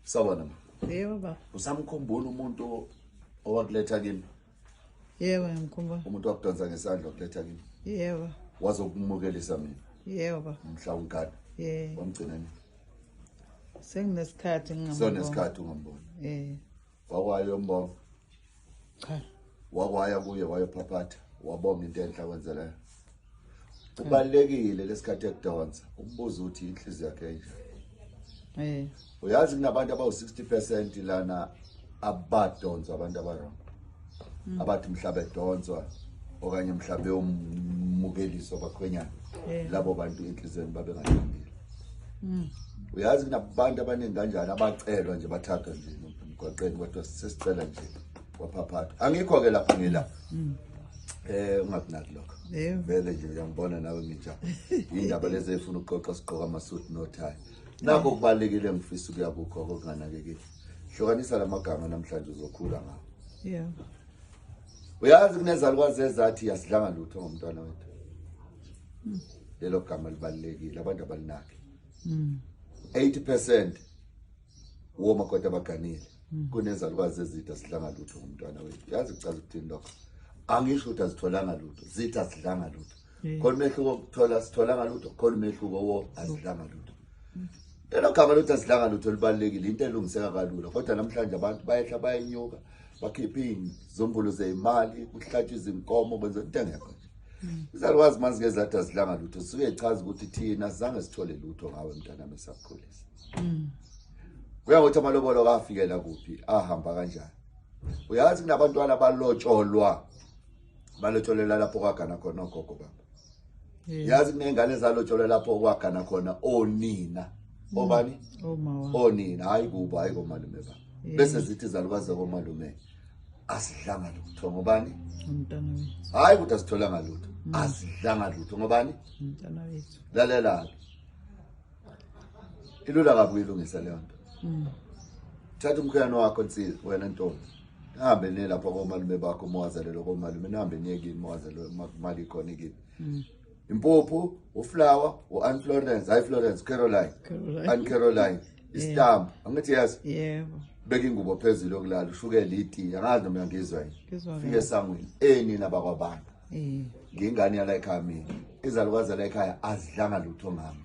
Sawubona ma. Yebo baba. Usamkhumbula umuntu owakuletha kimi? Yebo ngimkhumbula. Umuntu wakudonsa ngesandla wakuletha kimi? Yebo. Wazokumukelisa mina? Yebo baba. Mhla ungigada? Yebo. Wamgcina nini? Senginesikhathi ngingambona. Sonesikhathi ungambona. Eh. wakwayo mbongo cha wakwaya kuye wayophaphatha wabonga into enhle akwenzeleyo kubalulekile lesikhathi ekudonsa ukubuza ukuthi inhliziyo yakhe enje eh uyazi kunabantu abawu 60% lana abadonsa abantu abarong mm. abathi mhlaba edonswa okanye mhlawumbe yomukeliswa bakhwenyana eh. labo bantu enhliziyweni babengalungile mm. uyazi kunabantu abaningi kanjani abacelwa nje bathathwa nje emgwaqeni kodwa sesicela nje kwaphaphatha angikho-ke lapho ngila mm. Eh ungakunaki lokho. Vele nje uyangibona nawe ngija. Indaba lezi efuna ukuqoqa siqoka amasuit no tie. Nakho kubalekile ngifisa ukuya kukho okunganakekile. hlukanisa la magama namhlanje uzokhula ngawo yeah uyazi kunezalukwazi ezathi yasidlanga lutho ngomntwana wethu hmm. lelo gama libalulekile abantu abalinaki 80 percent womakoti abaganile hmm. kunezalukwazi ezitha sidlanga lutho ngomntwana wethu yazi kuchaza ukuthini lokho angisho ukuthi azitholanga lutho zitha sidlanga lutho khona umehluko okuthola sitholanga lutho khona umehluko wo azidlanga lutho lelo gama lokuthi azidlanga lutho libalulekile into elungiseka kalula kodwa namhlanje abantu bayehla bayenyuka bakhiphe izimbulu zeyimali kuhlatshwa izinkomo kwenza into engekho nje izalukwazi uma zike zathi azidlanga lutho zisuke zichaza ukuthi thina sizange sithole lutho ngawe mntanami esakukhulisa mm. kuya ngokuthi amalobolo kafikela kuphi ahamba kanjani uyazi kunabantwana balotsholwa balotsholela lapho kwagana khona ogogo baba yazi kunengane ezalotsholela lapho kwagana khona onina mm. obani onina hayi kubo hayi komalume baba bese zithi zalukazi zakomalume asidlanga lutho ngobani umntana wethu hayi ukuthi asitholanga lutho mm. asidlanga lutho ngobani umntana wethu lalela ilula kabi uyilungisa leyo nto mm. thatha umkhweyana wakho nsizwa wena ntombi nihambe niye lapha komalume bakho uma wazalelwa komalume nihambe niye kini uma wazalelwa uma kumali ikhona kini Mm. impuphu uflower u-ann florence hayi florence caroline Caroline. ann caroline isitambu angithi yazi Yebo. beka ingubo phezulu yokulala ushukele itiye angazi noma uyangizwa yini Ngizwa fike kahle. esangweni enina bakwabantu Eh. ngingane yala ekhaya mina izalukazi zala ekhaya azidlanga lutho ngami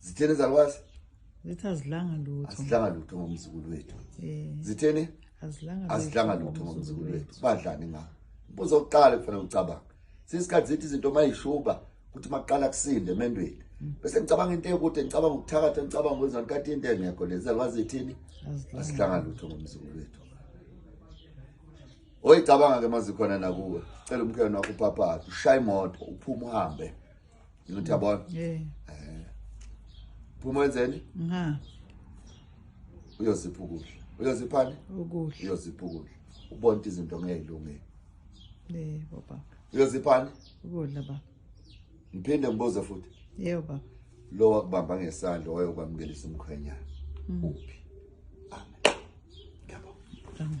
zitheni izalukwazi zithi azilanga lutho azilanga lutho ngomzukulu wethu eh. zitheni azilanga azilanga lutho ngomzukulu wethu badlani nga mbuzo oqala kufanele ucabanga sisikhathi zithi izinto mayishuba ukuthi maqala kusinde emendweni mm. bese ngicabanga into ekude ngicabanga ukuthakatha ngicabanga kwenzani kade into engekho lezi alwazi ithini asihlanga lutho ngomzukulu wethu oyicabanga ke mazikhona nakuwe cela umkhwena wakho uphaphathe ushaya imoto uphuma uhambe Ngithi yabona. Eh. Eh. Phuma wenzeni? Nga. Uyozipha ukudla. Uyoziphani? Ukudla. Uyozipha ukudla. Ubona ukuthi izinto ngeyilungile. Eh, baba. Uyoziphani? Ukudla baba. Ngiphinde ngibuze futhi. Yebo baba. Lo wakubamba ngesandla wayokwamkelisa umkhwenyana. Mm. Uphi? Amen. Yabo. Amen.